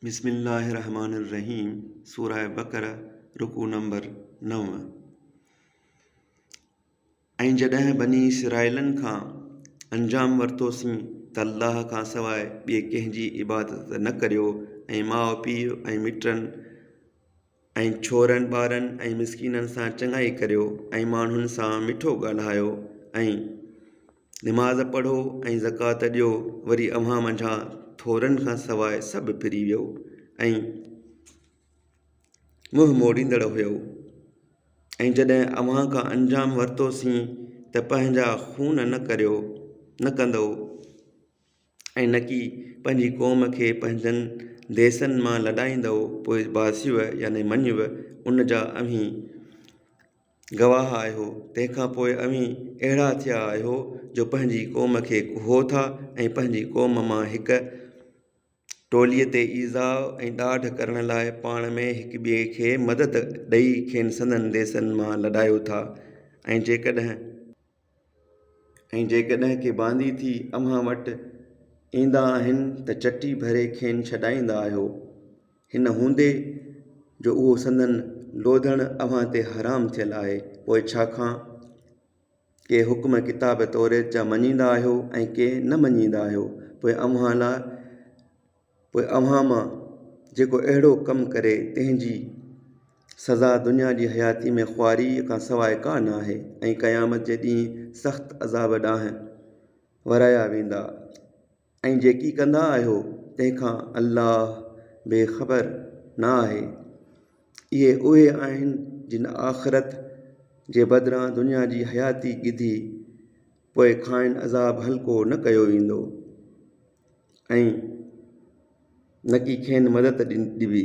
بسم الله الرحمٰن الرحيم سورة بقرة رڪوع نمبر نو ۽ جڏهن بني اسرائيلن کان انجام ورتوسين ته الله کان سواء ٻئي ڪنهن جي عبادت نه ڪريو ۽ ماء پيء ۽ مٽن ۽ ڇورن ٻارن ۽ مسڪينن سان چڱائي ڪريو ۽ ماڻهن سان مٺو ڳالهايو ۽ نماز پڙهو ۽ زڪوات ڏيو وري اوهان منجهان ٿورن کان سواء سڀ ڦري ويو ۽ منهن موڙيندڙ هيؤ ۽ جڏهن اوهان کان انجام ورتوسين ته پنهنجا خون نه ڪريو نه ڪندؤ ۽ نڪي پنهنجي قوم کي پنهنجن ديسن مان لڏائيندؤ پوء باسيو يعني مڃيو ان جا اوهين گواهه آهيو تنهن کان پوء اوهين اهڙا ٿيا آهيو جو پنهنجي قوم کي ڪوهو ٿا ۽ پنهنجي قوم مان هڪ ٽوليء تي ايذاء ۽ ڏاڍ ڪرڻ لاء پاڻ ۾ هڪ ٻئي کي مدد ڏئي کين سندن ديسن مان لڏايو ٿا ۽ جيڪڏهن ۽ جيڪڏهن ڪي باندي ٿي اوهان وٽ ايندا آهن ته چٽي ڀري کين ڇڏائيندا آهيو هن هوندي جو اهو سندن لوڌڻ اوهان تي حرام ٿيل آهي پوء ڇا کان ڪي حڪم ڪتاب توريت جا مڃيندا آهيو ۽ ڪي نه مڃيندا آهيو پوء اوهان لاء پوء اوهان مان جيڪو اهڙو ڪم ڪري تنهن جي سزا دنيا جي حياتيء ۾ خواريء کان سواء ڪا نه آهي ۽ قيامت جي ڏينهن سخت عذاب ڏانهن ورايا ويندا ۽ جيڪي ڪندا آهيو تنهن کان الله بي خبر نه آهي اهي اهي آهن جن آخرت جي بدران دنيا جي حياتي ڳڌي پوء کانئن عذاب هلڪو نه ڪيو ويندو. ۽ نه ڪي کين مدد ڏبي.